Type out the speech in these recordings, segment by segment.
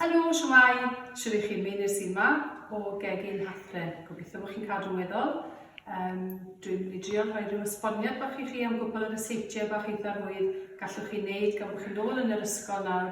Helo, siwmai, siwr i chi, mi nes i yma o gegin Hatre. Gobeithio bod chi'n cadw'n weddol. Um, dwi'n mynd i drio rhoi rhyw esboniad bach i chi am gwbl yr yseitiau bach eitha rwydd gallwch chi wneud gan bod chi'n ôl yn yr ysgol nawr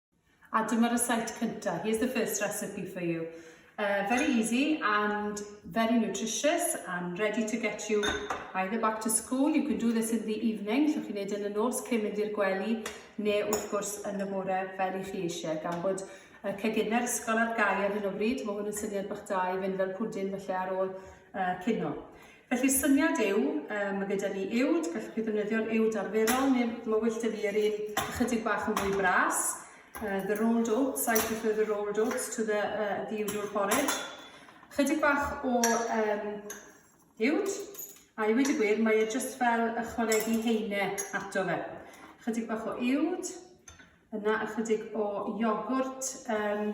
A dyma rysáit cynta. Here's the first recipe for you. Uh, very easy and very nutritious and ready to get you either back to school, you can do this in the evening, so chi'n neud yn y nos cyn mynd i'r gwely, neu wrth gwrs yn y bore fel i chi eisiau, gan bod uh, cegina'r ysgol ar gau ar hyn o bryd, mae hwn yn syniad bach da i fynd fel pwdin felly ar ôl uh, cino. Felly'r syniad yw, um, mae gyda ni uwd, gallwch chi ddefnyddio'r uwd arferol, neu mae wyllt y fi yr un ychydig bach yn fwy bras. Uh, the rolled oats, I prefer the rolled oats to the, uh, the uwd o'r porridge. Chydig bach o um, uwd, a i wedi gwir, mae e just fel ychwanegu heine ato fe. Chydig bach o uwd, yna ychydig o iogwrt um,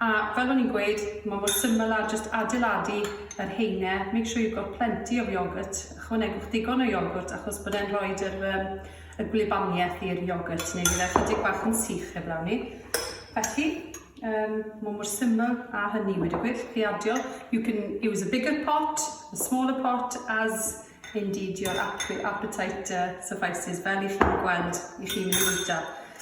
A fel o'n i'n gweud, ma' mor syml â jyst adeiladu yr heine, make sure you've got plenty of yoghurt, ychwanegwch ddigon o iogwrt achos bod e'n rhoid yr yym y gwlybanieth i'r iogwrt neu bydd e chydig bach yn sych heblaw 'ny. Felly, um, ma' mor syml â hynny wedi gwir, chi adio, you can use a bigger pot, a smaller pot as Indeed your appe- appetite yy suffices fel i chi gweld i chi mynd i fwyta.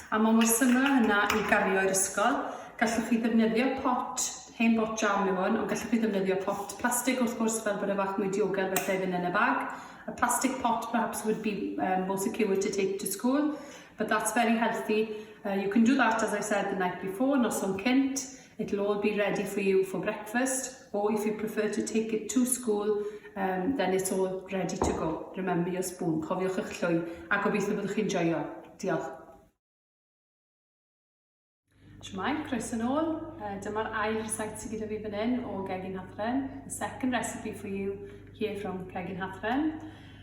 A ma' mor syml â hynna i gario i'r ysgol. Gallwch chi ddefnyddio pot, hen bot jam yw hwn, ond gallwch chi ddefnyddio pot plastig wrth gwrs fel bod e fach mwy diogel felly i fynd yn y bag. A plastic pot perhaps would be um, more secure to take to school, but that's very healthy. Uh, you can do that, as I said, the night before, noson cynt. It'll all be ready for you for breakfast or if you prefer to take it to school um, then it's all ready to go. Remember your spoon, cofiwch eich llwy a gobeithio byddwch chi'n joio. Diolch. Shwmai, croeso yn ôl. Uh, Dyma'r ail rhysait sydd gyda fi fan hyn o Gegin Hathren. The second recipe for you here from Gegin Hathren.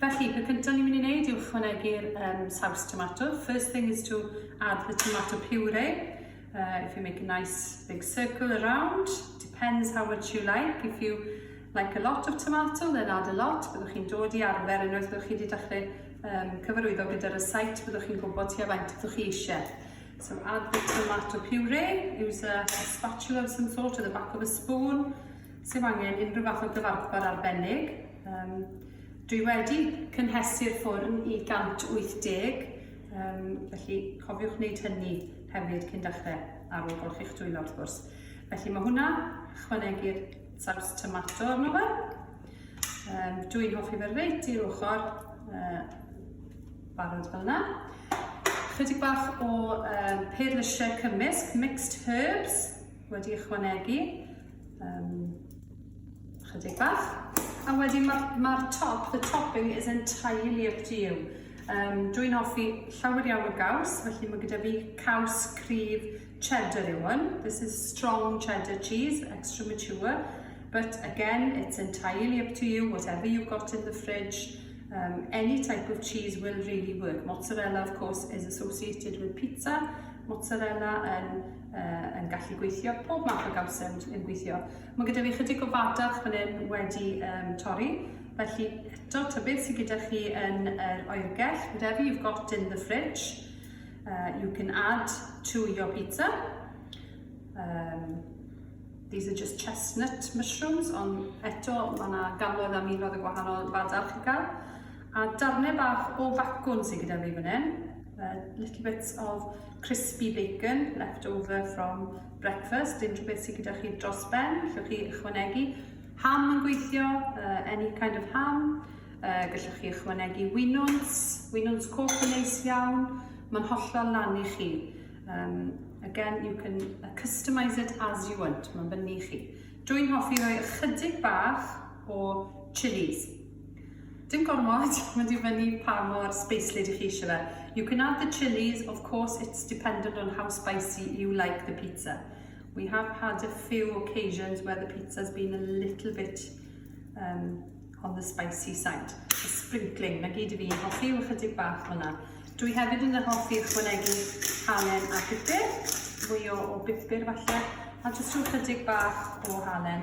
Felly, peth cyntaf ni'n mynd i wneud yw ychwanegu'r um, saws tomato. First thing is to add the tomato puree. Uh, if you make a nice big circle around, depends how much you like. If you like a lot of tomato, then add a lot. Byddwch chi'n dod i arfer unwaith byddwch chi wedi dechrau um, cyfarwyddo gyda'r site, byddwch chi'n gwybod ti a faint byddwch chi eisiau. So add the tomato puree, use a spatula of some sort or the back of a spoon, Sef angen unrhyw fath o gyfarpar arbennig. Um, dwi wedi cynhesu'r ffwrn i 180, um, felly cofiwch wneud hynny hefyd cyn dechrau ar ôl golchi'ch dwylo wrth gwrs. Felly mae hwnna, chwanegu'r saws tomato arno fe. Um, dwi'n hoffi fe reit i'r ochr, uh, barod fel yna. Chydig bach o um, peirlysiau cymysg, mixed herbs, wedi ychwanegu um, chydig bach. A wedyn mae'r ma top, the topping is entirely up to you. Um, Dwi'n offi llawer iawn o gaws, felly mae gyda fi caws cryf cheddar yw hwn. This is strong cheddar cheese, extra mature. But again, it's entirely up to you, whatever you've got in the fridge. Um, any type of cheese will really work. Mozzarella, of course, is associated with pizza. Mozzarella and uh, yn gallu gweithio, pob math o gawsem yn gweithio. Mae gyda fi chydig o fadarch fan hyn wedi um, torri, felly eto tybydd sydd gyda chi yn yr oergell, whatever you've got in the fridge, uh, you can add to your pizza. Um, these are just chestnut mushrooms, ond eto mae yna gannoedd a miloedd o gwahanol fadarch i gael. A darnau bach o facwn sydd gyda fi fan hyn. Uh, little bits of crispy bacon left over from breakfast. Unrhyw beth sydd gyda chi dros ben, llwch chi ychwanegu. Ham yn gweithio, uh, any kind of ham. Uh, gallwch chi ychwanegu winwns, winwns coch yn neis iawn. Mae'n hollol lan i chi. Um, again, you can uh, customise it as you want, mae'n fyny i chi. Dwi'n hoffi rhoi ychydig bach o chilies Dim gormod, mae'n dibynnu pa mor sbeislyd i chi eisiau fe. You can add the chilies, of course it's dependent on how spicy you like the pizza. We have had a few occasions where the pizza's been a little bit um, on the spicy side. The sprinkling, na gyd i fi, hoffi yw chydig bach hwnna. Dwi hefyd yn hoffi ychwanegu halen a pupur, fwy o, o bupur falle, a jyst rhyw chydig bach o halen.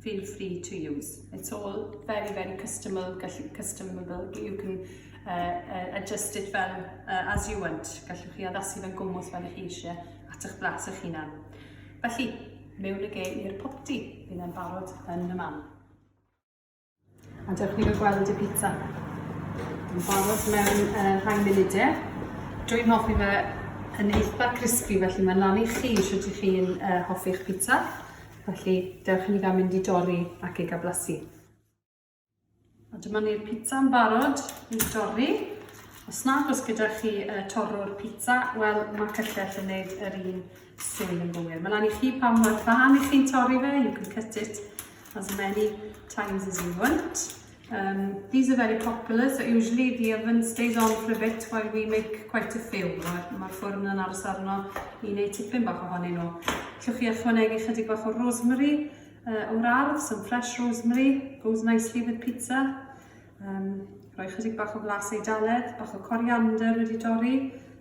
feel free to use. It's all very, very customable, gallu customable, but you can uh, uh, adjust it fel uh, as you want. Gallwch chi addasu fe'n gwmwth fel ych chi eisiau at eich blas eich hunan. Felly, mewn y gei i'r popty, bydd e'n barod yn y man. A dewch ni gael gweld y pizza. Yn barod mewn uh, rhai munudau. Dwi'n hoffi fe yn eitha crispy, felly mae'n lan i chi sydd ydych chi'n uh, hoffi'ch pizza. Felly, dewch i ni gael mynd i dorri ac ei gablasu. A dyma ni'r pizza yn barod i dorri. Os nad oes gyda chi uh, torrwr pizza, wel mae cyllell yn gwneud yr un swydd yn gywir. Mae'n lan i chi pan mae'r fan i chi'n torri fe, you can cut it as many times as you want. Um, these are very popular, so usually the oven stays on for a bit while we make quite a few. Mae'r ma ffwrn yn aros arno i wneud tipyn bach ohonyn nhw. Llwch chi ychwanegu chydig bach o rosemary uh, o'r ardd, some fresh rosemary, goes nicely with pizza. Um, rhoi chydig bach o flas eidaledd, bach o coriander wedi dorri,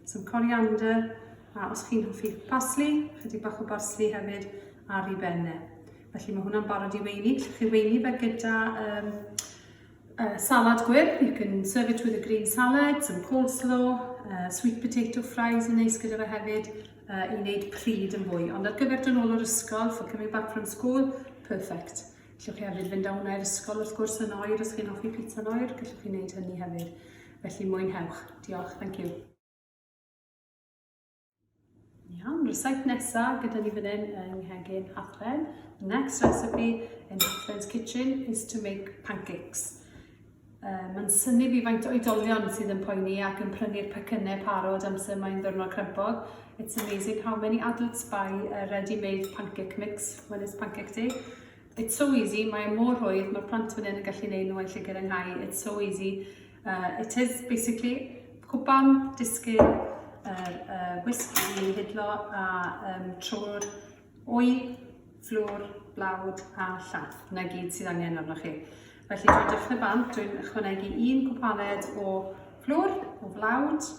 some coriander, a os chi'n hoffi parsley, chydig bach o parsley hefyd ar ei benne. Felly mae hwnna'n barod i weini. Llwch chi weini fe gyda um, uh, salad gwyrdd. You can serve it with a green salad, some coleslaw, uh, sweet potato fries yn neis gyda fe hefyd uh, i wneud pryd yn fwy. Ond ar gyfer dyn ôl o'r ysgol, for coming back from school, perfect. Llwch chi hefyd fynd â hwnna i'r ysgol wrth gwrs yn oer, os chi'n offi pizza yn oer, gallwch chi wneud hynny hefyd. Felly mwynhewch. Diolch, thank you. Iawn, recipe nesaf gyda ni fan hyn yng Nghegin Hafren. The next recipe in Hafren's kitchen is to make pancakes. Uh, Mae'n syni fi faint o oedolion sydd yn poeni ac yn prynu'r pecynnau parod amser mae'n ddwrnod crempog. It's amazing how many adults buy a ready-made pancake mix when it's pancake day. It's so easy, mae mor rhwydd, mae'r plant fan hyn yn gallu neud nhw yn lle gyda nghau. It's so easy. Uh, it is basically cwpan, disgyn, yr uh, wisg i hidlo a um, trwy'r wy, fflwr, blawd a llath. Yna gyd sydd angen arnoch chi. Felly dwi'n dechrau bant, dwi'n ychwanegu un cwpaned o fflwr, o flawd,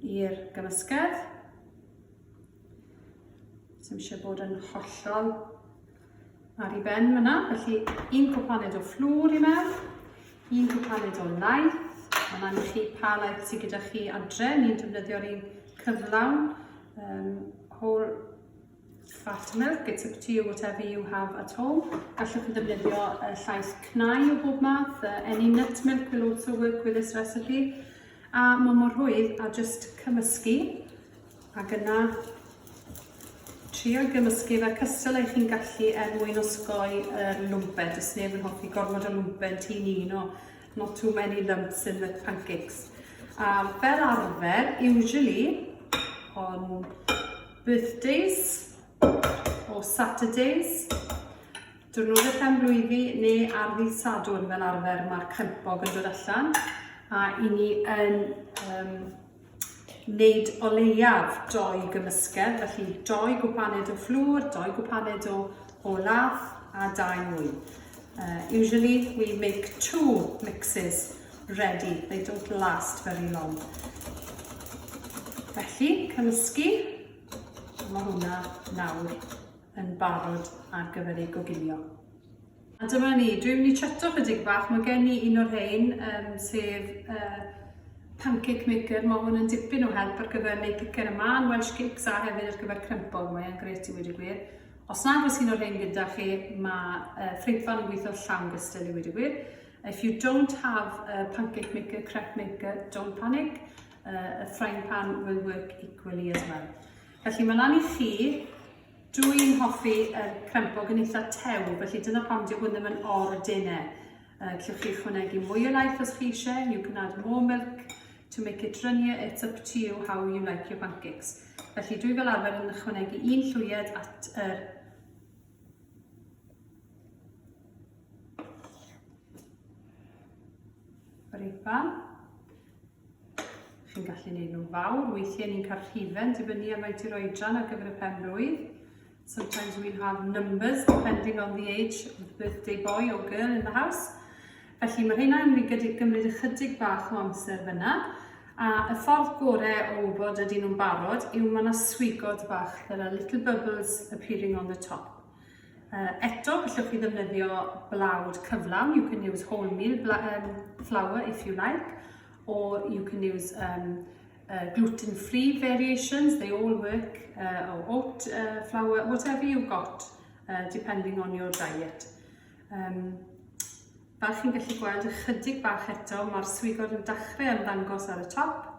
i'r gymysgedd. Sym eisiau bod yn hollol ar ei ben fyna. Felly un cwpaned o fflwr i mewn, un cwpaned o laeth, mae'n angen chi pa laeth sydd gyda chi adre, ni'n defnyddio'r un cyflawn, um, whole fat milk, it's up to you whatever you have at home. Gallwch chi ddefnyddio uh, llais cnau o bob math, uh, any nut milk will also work with this recipe. A mae mor hwydd a just cymysgu Ac yna, trio gymysgu fe cystal eich chi'n gallu er mwyn osgoi y lwmpen. Does neb yn hoffi gormod o lwmpen ti'n un o not too many lumps in the pancakes. A fel arfer, usually, on birthdays or Saturdays, diwrnodau pen blwyddi neu ar ddydd Sadwrn fel arfer mae'r crempog yn dod allan a i ni yn um, wneud o leiaf doi gymysgedd, felly doi gwpaned o fflwr, doi gwpaned o, o lath a dau mwy. Uh, usually we make two mixes ready, they don't last very long. Felly, cymysgu, mae hwnna nawr yn barod ar gyfer ei goginio. A dyma ni, dwi'n mynd i chato chydig bach, mae gen i un o'r rhain, um, sef uh, pancake maker, mae hwn yn dipyn o help ar gyfer neu cicer y man, Welsh cakes a hefyd ar gyfer crempog, mae'n gret i wedi gwir. Os nad oes un o'r rhain gyda chi, mae uh, ffrindfan yn gweithio llawn gystal i wedi gwir. If you don't have a pancake maker, crepe maker, don't panic, uh, a frying pan will work equally as well. Felly mae lan i chi Dw i'n hoffi yr crempog yn eitha tew, felly dyna pam dyw hwn ddim yn ordinne. Uh, Clywch chi chwnegu mwy o laeth os chi eisiau, and you can add more milk to make it runnier, it's up to you how you like your pancakes. Felly dwi fel arfer yn ychwanegu un llwyed at yr er Brifan. Chi'n gallu gwneud nhw'n fawr, weithiau ni'n cael rhifen dibynnu ar faint i'r oedran ar gyfer y pen blwydd. Sometimes we'll have numbers depending on the age of the birthday boy or girl in the house. Felly mae rheina yn mynd i gymryd ychydig bach o amser fyna. A y ffordd gorau o wybod ydy nhw'n barod yw mae yna swigod bach, there are little bubbles appearing on the top. Uh, eto, gallwch chi ddefnyddio blawd cyflawn. You can use wholemeal um, flour if you like, or you can use um, uh, gluten-free variations. They all work, uh, or oat uh, flour, whatever you've got, uh, depending on your diet. Um, fel chi'n gallu gweld ychydig bach eto, mae'r swigod yn dechrau ymddangos ar y top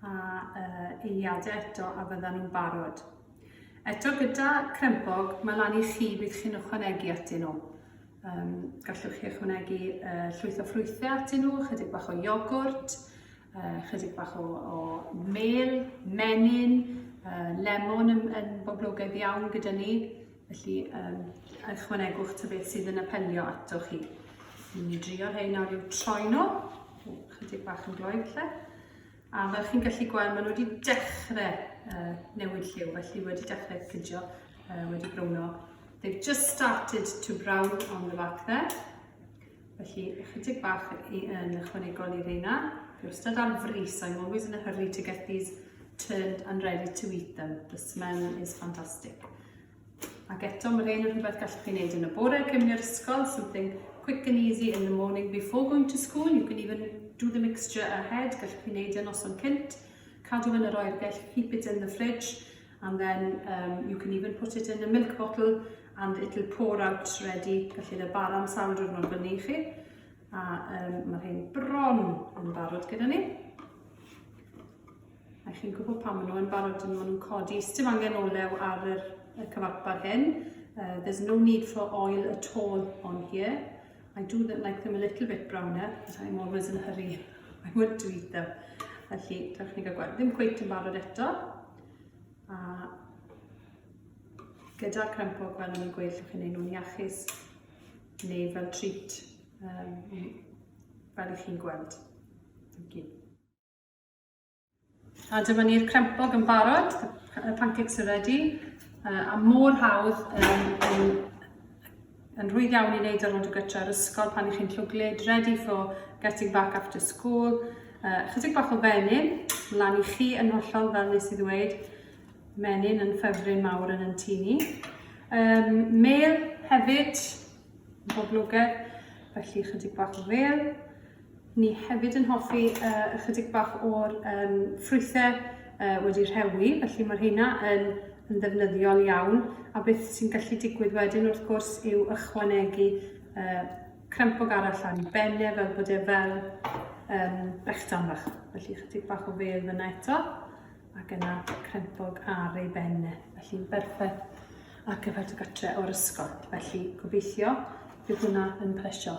a uh, eiliadau eto a fyddan nhw'n barod. Eto gyda crempog, mae lan i chi beth chi'n ychwanegu atyn nhw. Um, gallwch chi ychwanegu uh, llwyth o ffrwythau atyn nhw, chydig bach o iogwrt, uh, chydig bach o, o mel, menyn, uh, lemon yn, yn boblogaidd iawn gyda ni. Felly, um, ychwanegwch ta beth sydd yn apelio ato chi. Ni'n ni drio rhai nawr i'w troi nhw. Chydig bach yn gloed lle. A fel chi'n gallu gweld, maen nhw wedi dechrau uh, newid lliw, felly wedi dechrau cydio, uh, wedi browno. They've just started to brown on the back there. Felly, ychydig bach i, yn ychwanegol i reina. Fi wastad ar fris, I'm always in a hurry to get these turned and ready to eat them. The smell is fantastic. Ac eto, mae rhain yn rhywbeth gallwch chi wneud yn y bore cyn mynd i'r ysgol, something quick and easy in the morning before going to school. You can even do the mixture ahead, gallwch chi wneud yn noson cynt, cadw yn yr oergell, keep it in the fridge, and then um, you can even put it in a milk bottle and it'll pour out ready, gallu rhaid bar am sawl diwrnod fyny i chi. A um, mae rhain bron yn barod gyda ni. A chi'n gwybod pam maen nhw yn barod, maen nhw'n codi. Sdim angen olew ar yr, y cyfarpar hyn. Uh, there's no need for oil at all on here. I do like them a little bit browner, but I'm always in a hurry. I want to eat them. Felly, dewch ni gael gweld. Ddim cweith yn barod eto. A gyda'r crempo, fel o'n i'n gweud, llwch chi'n ei nhw'n iachus neu fel treat, um, fel i chi'n gweld. Thank you. A dyma ni'r crempog yn barod, y pancakes are ready, a mor hawdd yn, yn, yn rhwydd iawn i wneud ar ôl dy gytra ar ysgol pan ych chi'n llwglyd, ready for getting back after school. Uh, chydig bach o fenyn, lan i chi yn hollol fel nes i ddweud, menyn yn ffefryn mawr yn yn tu ni. Um, mel hefyd, boblogedd, felly chydig bach o fel. Ni hefyd yn hoffi uh, ychydig bach o'r um, ffrwythau uh, wedi rhewi, felly mae'r heina yn, yn ddefnyddiol iawn. A beth sy'n gallu digwydd wedyn wrth gwrs yw ychwanegu uh, crempog arall ar ei benne fel bod e fel um, brechdan fach. Felly ychydig bach o fedd yna eto ac yna crempog ar ei benne. Felly'n berffaith ar gyfer dy gytre o'r ysgol. Felly gobeithio bydd hwnna yn plesio.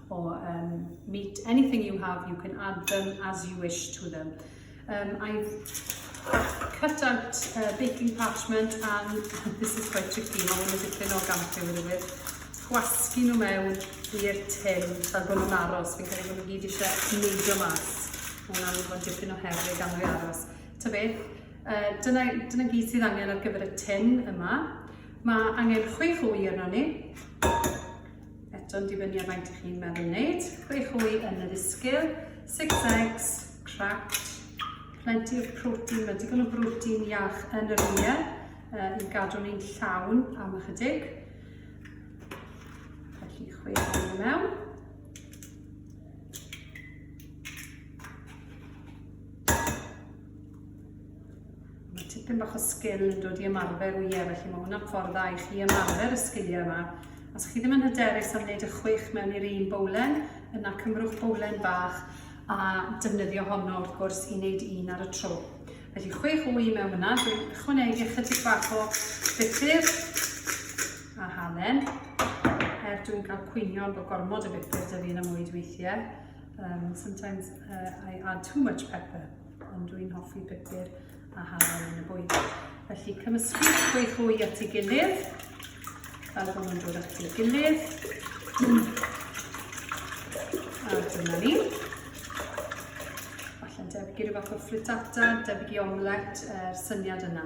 or um, meat, anything you have, you can add them as you wish to them. Um, I've cut out uh, baking parchment and this is quite tricky, mae hwn yn dipyn o gampio yn wir. Gwasgu nhw mewn i'r tin fel bod nhw'n aros, fi'n credu bod nhw gyd eisiau neidio mas. Mae hwnna'n mynd bod dipyn o herig gan nhw aros. Ta beth, uh, dyna, dyna gyd sydd angen ar gyfer y tin yma. Mae angen chwech o wy arno ni, Eto'n dibynnu ar faint ych chi'n meddwl wneud. Chwe chwy yn yr isgil, six eggs, cracked, plenty of protein, mae digon o brotein iach yn yr wyliau uh, i gadw ni'n llawn am ychydig. Felly chwe chwy yn mewn. Mae tipyn bach o sgil yn dod i ymarfer wyau, felly mae hwnna'n ffordd dda i chi ymarfer y sgiliau yma. Os chi ddim yn hyderus am wneud y chwech mewn i'r un bowlen, yna cymrwch bowlen bach a defnyddio honno wrth gwrs i wneud un ar y tro. Felly chwech wy mewn yna, dwi'n chwnegu ychydig bach o bupur a halen, er dwi'n cael cwynion bod gormod o bupur dyfu yn y mwyd weithiau. Um, sometimes uh, I add too much pepper, ond dwi'n hoffi pupur a hafal yn y bwyd. Felly cymysgu gweith hwy at ei gilydd, fel bod nhw'n dod at ei gilydd. A dyna ni. Falle debyg i ryw fath o frittata, debyg i omlet, er syniad yna.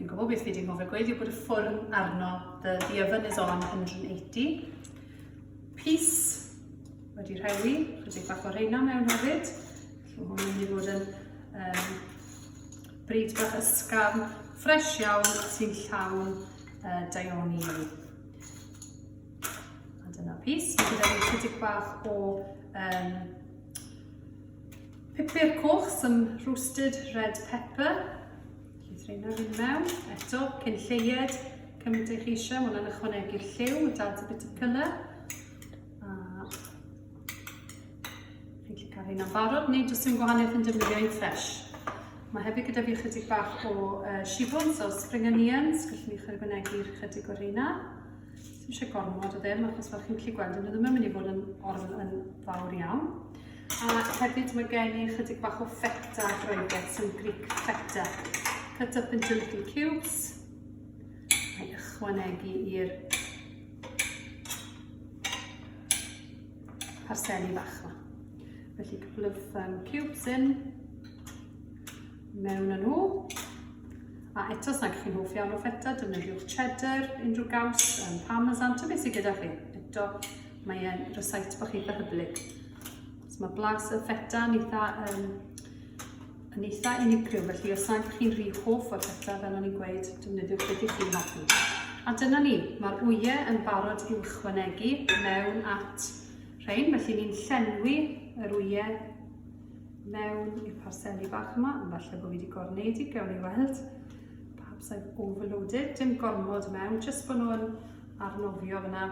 Fi'n gwybod beth fi wedi anghofio gweud yw bod y ffwrn arno, the, the oven is on 180. Pys wedi rhewi, rydych bach o reina mewn hefyd. Felly hwn yn mynd i fod yn um, bryd bach ysgafn, ffres iawn sy'n llawn uh, daioni. A dyna pys, mae gyda fi chydig bach o um, pupur coch, some roasted red pepper, Llyth reina fi'n mewn, eto, cyn lleied, cymryd eich eisiau, mae hwnna'n ychwanegu'r lliw, it adds a bit of colour. A fi'n gallu cael hynna'n barod, neu jyst yn gwahaniaeth yn defnyddio ein ffres. Mae hefyd gyda fi chydig bach o uh, shibwns o spring onions, gallwn ni chyrbynegu'r chydig o'r rheina. Ddim eisiau gormod o ddim, achos fel chi'n gallu gweld, nhw ddim yn mynd i fod yn, yn fawr iawn. A hefyd mae gen i ychydig bach o feta a Groegaidd, some Greek feta. Cut up into little cubes. A'i ychwanegu i'r parseli fach yma. Felly couple of um, cubes in mewn â nhw. A eto, os nad chi'n hoff iawn o feta, defnyddiwch cheddar, unrhyw gaws, um, parmesan, ta beth sydd gyda chi. Eto, Mae e'n rysait bach eitha hyblyg. So mae blas y feta yn eitha, um, yn eitha unigryw, felly os nad chi'n rhy hoff o'r feta, fel o'n i'n gweud, defnyddiwch beth i chi'n hoffi. A dyna ni, mae'r wyau yn barod i'w chwanegu mewn at rhain, felly ni'n llenwi yr wyau mewn i'r parseli bach yma, ond falle bod fi wedi gorneud i, gawn ni weld. Perhaps I've overloaded, dim gormod mewn, jyst bod nhw'n arnofio fyna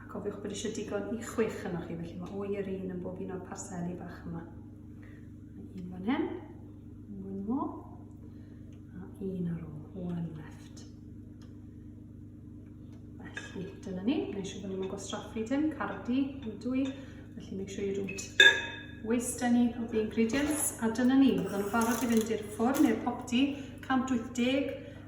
A cofiwch bod eisiau digon i chwech yno chi, felly mae o'i yr un yn bob un o'r parseli bach yma. Un fan hyn, un mor, a un ar ôl, one left. Felly, dyna ni, neu siw bod ni'n gwastraffu dim, cardi, yn dwy, felly make sure you don't waste any of the ingredients. A dyna ni, fydden nhw'n barod i fynd i'r ffwrn neu'r popty, 180,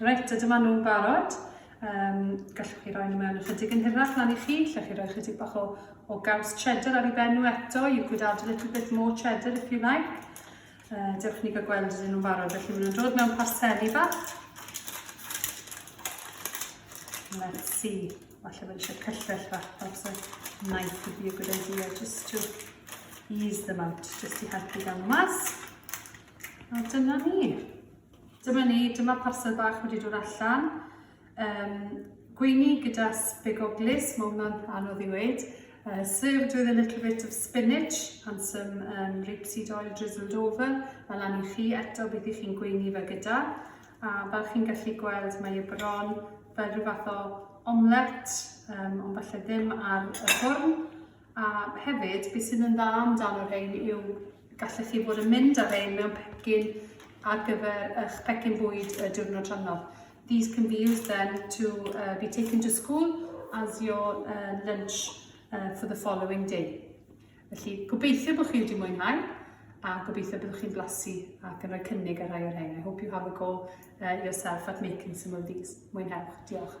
Reit, ydym â nhw'n barod. Um, gallwch chi roi nhw mewn ychydig yn hirach lan i chi, lle chi roi ychydig bach o, o gaws cheddar ar ei ben nhw eto. You could add a little bit more cheddar if you like. Uh, dewch ni gael gweld ydyn nhw'n barod. Felly maen nhw'n dod mewn pasteli bach. Let's see. Falle bod eisiau cyllell bach. Perhaps a knife would be a good idea just to ease them out. Just i helpu gan mas. A dyna ni. Dyma ni, dyma parsel bach wedi dod allan. Um, gweini gyda sbegoglus, mae hwnna'n anodd i weid. Uh, served with a little bit of spinach and some um, rapeseed oil drizzled over. Mae lan i chi eto beth i chi'n gweini fe gyda. A fel chi'n gallu gweld, mae y bron fel rhyw fath o omlet, um, ond falle ddim ar y ffwrn. A hefyd, beth sydd yn dda amdano rhain yw Gallech chi fod yn mynd â rhein mewn pecyn ar gyfer eich pecyn bwyd y diwrnod rhannol. These can be used then to uh, be taken to school as your uh, lunch uh, for the following day. Felly, gobeithio bod chi wedi mwynhau a gobeithio byddwch chi'n blasu ac yn rhoi cynnig ar rai o'r rhain. I hope you have a go uh, yourself at making some of these. Mwynhewch. Diolch.